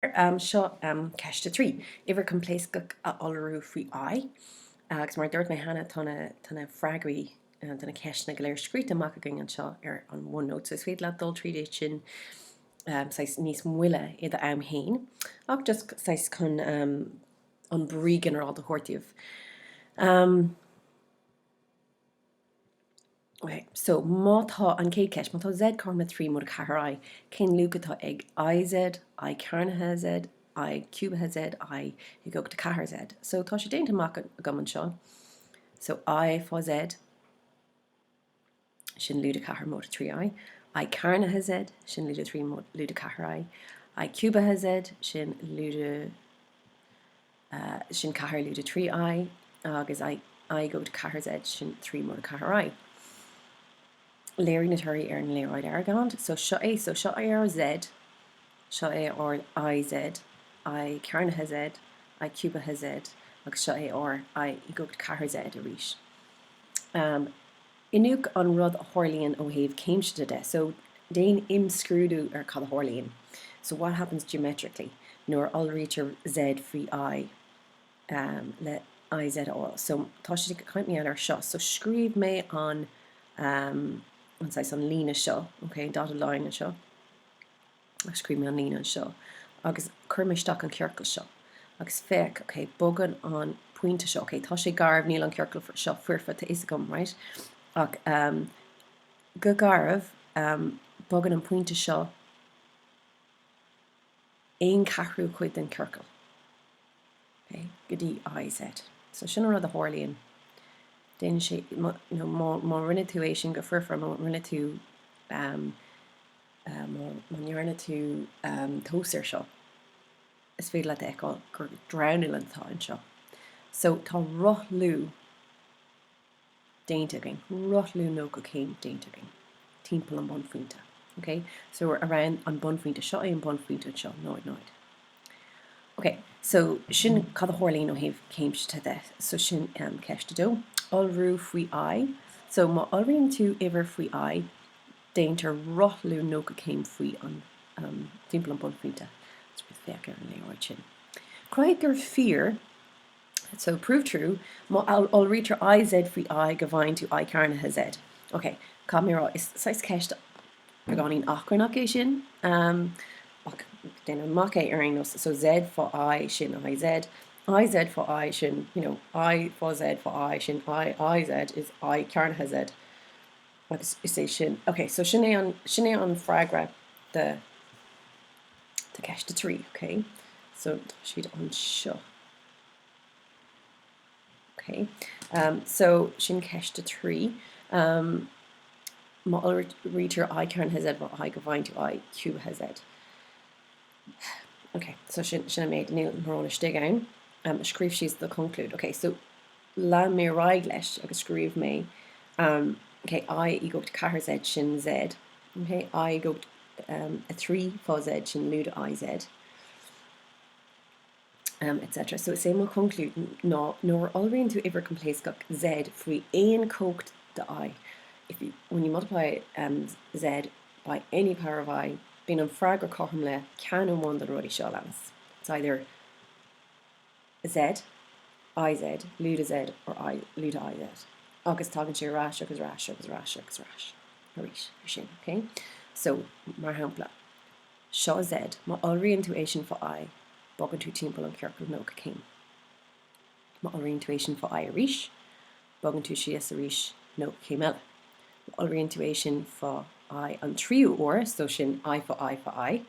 Seo ceist a trí, uimhir coimpléascach a iolrú faoi I, agus mar a dúirt mé cheana tá na freagraí do na ceisteanna go léir scríte amach againn anseo ar an OneNote, so is féidir leat dul tríd iad sin saghas níos moille i do am fhéin, ach just saghas chun an brí ginearálta a thabhairt daoibh. OK, so má tá, an chéad ceist, má tá Z cothrom le trí móide ceathair I, cén luach atá ag IZ, I cearnaithe Z, I ciúbaithe Z, I i gcumhacht a ceathair Z? So tá sé déanta amach agam anseo, so I fá Z, sin lúide ceathair móide trí I, I cearnaithe Z, sin lúide trí lúide ceathair I, I ciúbaithe Z, sin lúide sin ceathair lúide 3 i, agus i i gcumhacht a ceathair Z, sin 3 móide ceathair i. Léirigh na torthaí ar an léaráid Argand, so seo é, so seo é ár Z, seo é ár i Z, i cearnaithe Z, i ciúbaithe Z, agus seo é ár i i gcumhacht a ceathair Z arís. Iniúch an rud a tharlaíonn ó thaobh céimseata de, so déan imscrúdú ar cad a tharlaíonn, so what happens geometrically, nuair a iolraítear Z faoi I le IZ a fháil. So tá siad ag caint mar gheall air seo, so scríobh mé an an saghas an líne seo, okay, an dotted line anseo. Scríobh mé an líne anseo agus chuir mé isteach an ciorcal seo agus féach, ok, bogann an pointe seo, ok, tá sé garbh, níl an ciorcal seo foirfe, tá fhios agam, right? ach go garbh, bogann an pointe seo aon cheathrú chuid den ciorcal, ok, go dtí IZ. So sin an rud a tharlaíonn, déanann sé, you know, má rinne tú é sin go foirfe, má rinne tú, Má ndearna tú tomhas air seo, is féidir leat a fheiceáil gur dronuillinn atá anseo. So, tá rothlú déanta againn, rothlú 90 céim déanta againn timpeall an bunphointe. Ok? So, around an bunphointe. Seo é an bunphointe anseo, náid, náid. Ok, so sin cad a tharlaíonn ó thaobh céimseata de. So, sin ceist a dó. Iolrú faoi I. So, má iolraíonn tú uimhir faoi I, déantar rothlú 90 céim faoi an timpeall an bunphointe. Féach ar an léaráid sin. Cruthaigh gur fíor So, prove true má iolraítear I Z faoi I go bhfaigheann tú I cearnaithe Z. Ok, caithfidh mé a rá, is saghas ceist beagáinín achrannach é sin, ach déan amach é ar aon nós. So Z fá I, sin I Z. I Z fá I, sin, you know, I fá Z fá I, sin I I Z, is I cearnaithe Z. Agus is é sin, ok, so sin é an, sin é an freagra do, do cheist a trí, ok. So tá siad anseo. Ok, um, so sin ceist a trí. Um, má iolraítear I cearnaithe Z, má I gcaithfidh tú I ciúbaithe Z. Ok, so sin, sin an méid, níl mórán istigh ann. Um, scríobh síos do conclúid. Ok, so Lean mé ar aghaidh leis agus scríobh mé okay i i gcumhacht 4 Z sin Z, okay i i gcumhacht 3 fá Z sin lúide i Z, etc. So is é mo chonclúid ná nuair a iolraíonn tú uimhir coimpléascach Z faoi aon chumhacht de i, if you, when you multiply Z by any power of i, bíonn an freagra cothrom le ceann amháin de na rudaí seo a leanas, it's either, Z, IZ, lúide Z or I, lúide IZ agus tagann sé ar ais agus ar ais agus ar ais agus ar ais arís ansin, ok? So, mar shampla, seo Z, má iolraíonn tú é sin fá I, bogann tú timpeall an chiorcail 90 céim. Má iolraíonn tú é sin fá I arís, bogann tú síos arís 90 céim eile. Má iolraíonn tú é sin fá I an tríú uair, so sin I fá I fá I,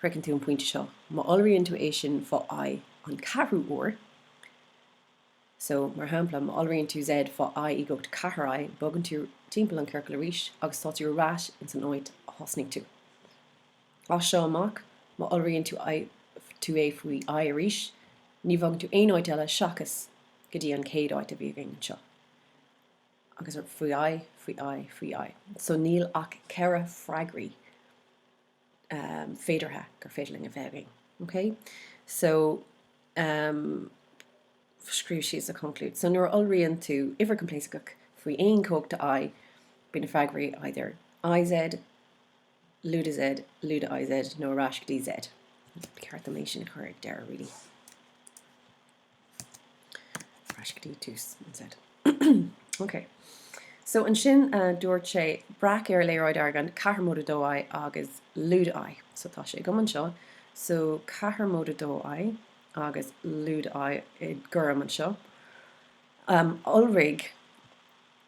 Shroicheann tú an pointe seo má iolraíonn tú é sin fá I an ceathrú uair. So, mar shampla, má iolraíonn tú Z fá I i gcumhacht a ceathair I, bogann tú timpeall an ciorcail arís agus tá tú ar ais insan áit a thosnaigh tú. As seo amach, má iolraíonn tú I tú é faoi I arís, ní bhogann tú aon áit eile seachas go dtí an chéad áit a bhí againn anseo. Agus faoi I, faoi I, faoi I. So níl ach ceithre freagraí. féideartha gur féidir linn a bheith againn. OK? So, um, scríobh síos an chonclúid. So, nuair a iolraíonn tú uimhir coimpléascach faoi aon chumhacht de I, bíonn na freagraí either IZ, lúide Z, lúide IZ nó ar ais go dtí Z. Ceart dom é sin a chur ag deireadh, really. ansin dúirt sé, breac ar léaráid Argand ceathair móide 2I agus lúide I. So tá sé agam anseo. So ceathair móide 2I agus lúide I i ngorm anseo. Iolraigh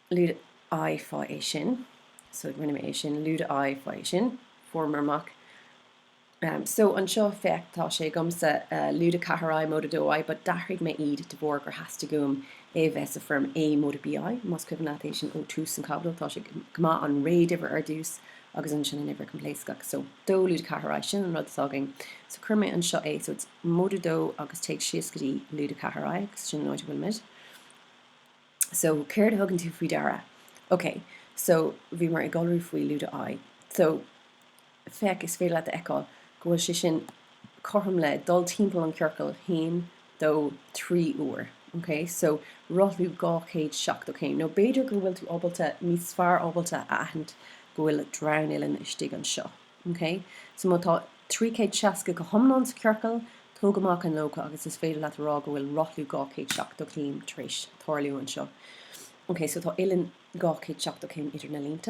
lúide I fá é sin. So rinne mé é sin, lúide I fá é sin. Fuaireamar amach. So anseo, féach, tá sé agamsa, lúide 4 I, móide 2 I, but d'athraigh mé iad de bharr gur theastaigh uaim é a bheith sa foirm A móide B I, más cuimhin leat é sin ó tús an chaibidil, tá sé go maith an réaduimhir ar dtús agus ansin an uimhir coimpléascach. So, 2 lúide 4 I, sin an rud atá againn. So cuir mé anseo é, so it's móide 2 agus téigh síos go dtí lúide 4 I agus sin an áit a bhfuilimid. So céard a thugann tú faoi deara? Okay, so bhíomar ag iolrú faoi lúide I. So. féach, is féidir leat a fheiceáil go bhfuil sé sin cothrom le dul timpeall an chiorcail haon, dó, trí uair. Ok, so rothlú 270 céim, nó b'fhéidir go bhfuil tú ábalta, níos fearr ábalta a aithint go bhfuil dronuillinn istigh anseo. Ok, so má tá 360 go hiomlán sa ciorcal, tóg amach an 90 agus is féidir leat a rá go bhfuil rothlú 270 céim tar éis tarlú anseo. Ok, so tá uillinn 270 céim idir na línte.